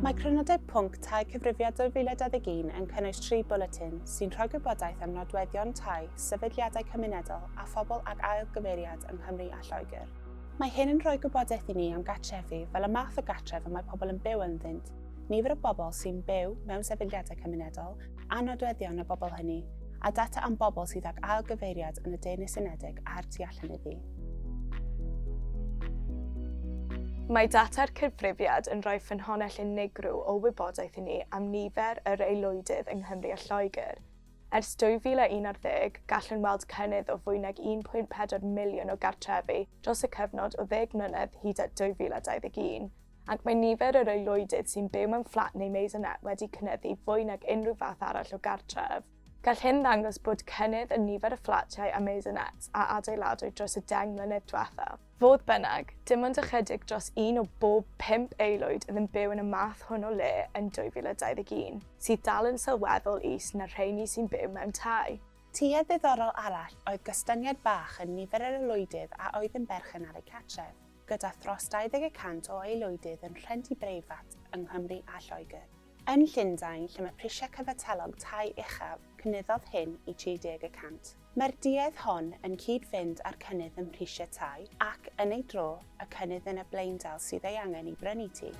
Mae Crynodeb Pwnc Tai Cyfrifiad 2021 yn cynnwys tri bwletin sy'n rhoi gwybodaeth am nodweddion tai, sefydliadau cymunedol a phobl ag ail gyfeiriad yng Nghymru a Lloegr. Mae hyn yn rhoi gwybodaeth i ni am gartrefi fel y math o gartref y mae pobl yn byw ynddynt, nifer y bobl sy'n byw mewn sefydliadau cymunedol, a nodweddion y bobl hynny, a data am bobl sydd ag ailgyfeiriad yn y Deyrnas Unedig a'r tu allan iddi. Mae data'r cyfrifiad yn rhoi ffynhonnell unigryw o wybodaeth i ni am nifer yr aelwydydd yng Nghymru a Lloegr. Ers 2011, gallwn weld cynnydd o fwy nag 1.4 miliwn o gartrefi dros y cyfnod o ddeg mlynedd hyd at 2021, ac mae nifer yr aelwydydd sy'n byw mewn fflat neu maisonette wedi cynyddu fwy nag unrhyw fath arall o gartref. Gall hyn ddangos bod cynnydd yn nifer y fflatiau a maisonettes a adeiladwyd dros y deng mlynedd diwethaf. Fodd bynnag, dim ond ychydig dros un o bob pump aelwyd oedd yn byw yn y math hwn o le yn 2021, sydd dal yn sylweddol is na'r rheini sy'n byw mewn tai. Tuedd ddiddorol arall oedd gostyngiad bach yn nifer yr aelwydydd a oedd yn berchen ar eu cartref. gyda thros 20 y cant o aelwydydd yn rhentu breifat yng Nghymru a Lloegr. Yn Llundain, lle mae prisiau cyfatellog tai uchaf, cynyddodd hyn i 30 y cant. Mae'r duedd hon yn cyd-fynd â'r cynnydd ym mhrisiau tai ac, yn ei dro, y cynnydd yn y blaendal sydd ei angen i brynu tŷ.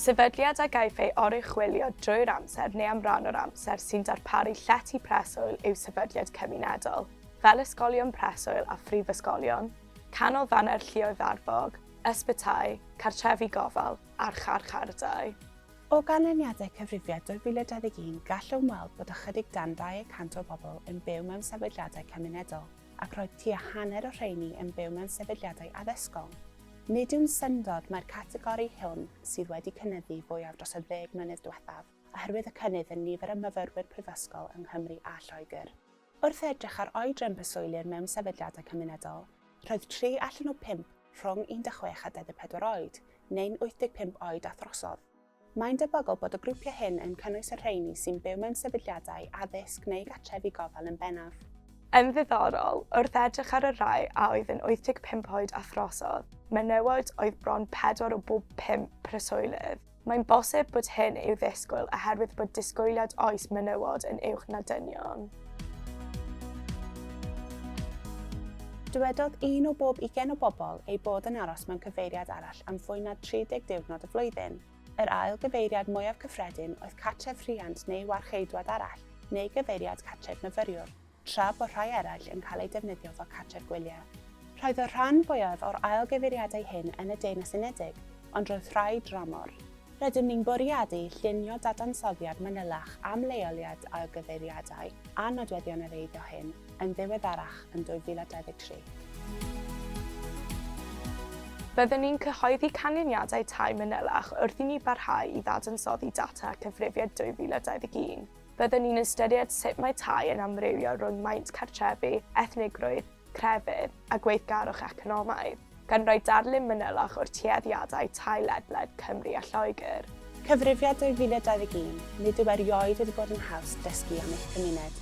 Sefydliad a gaiff ei oruchwylio drwy'r amser neu am ran o'r amser sy'n darparu llety preswyl yw sefydliad cymunedol. fel ysgolion preswyl a phrifysgolion, canolfannau'r lluoedd arfog, ysbytai, cartrefi gofal a'r charchardai. O ganlyniadau Cyfrifiad 2021 gallwn weld bod ychydig dan 200 o bobl yn byw mewn sefydliadau cymunedol ac roedd tua hanner o rheiny yn byw mewn sefydliadau addysgol. Nid yw'n syndod mai'r categori hwn sydd wedi cynyddu fwyaf dros y ddeg mlynedd diwethaf oherwydd y cynnydd yn nifer y myfyrwyr prifysgol yng Nghymru a Lloegr. Wrth edrych ar oedran preswylyr mewn sefydliadau cymunedol, roedd tri allan o bump rhwng 16 a 24 oed, neu'n 85 oed a throsodd. Mae'n debygol bod y grwpiau hyn yn cynnwys y rheini sy'n byw mewn sefydliadau addysg neu gartrefi gofal yn bennaf. Yn ddiddorol, wrth edrych ar y rhai a oedd yn 85 oed a throsodd, menywod oedd bron pedwar o bob pump preswylydd. Mae'n bosib bod hyn i'w ddisgwyl oherwydd bod disgwyliad oes menywod yn uwch na dynion. Dywedodd un o bob ugain o bobl eu bod yn aros mewn cyfeiriad arall am fwy na 30 diwrnod y flwyddyn. Yr ail gyfeiriad mwyaf cyffredin oedd cartref rhiant neu warcheidwad arall, neu gyfeiriad cartref myfyriwr. tra bod rhai eraill yn cael eu defnyddio fel cartref gwyliau. Roedd y rhan fwyaf o'r ail gyfeiriadau hyn yn y Deyrnas Unedig, ond roedd rhai dramor. Rydym ni'n bwriadu llunio dadansoddiad manylach am leoliad ail gyfeiriadau a nodweddion yr eiddo hyn yn ddiweddarach yn 2023. Byddwn ni'n cyhoeddi canlyniadau tai manylach wrth i ni barhau i ddadansoddi data Cyfrifiad 2021. Byddwn ni'n ystyried sut mae tai yn amrywio rhwng maint cartrefi, ethnigrwydd, crefydd a gweithgarwch economaidd, gan roi darlun manylach o'r tueddiadau tai ledled Cymru a Lloegr. Cyfrifiad 2021, Nid yw erioed wedi bod yn haws dysgu am eich cymuned.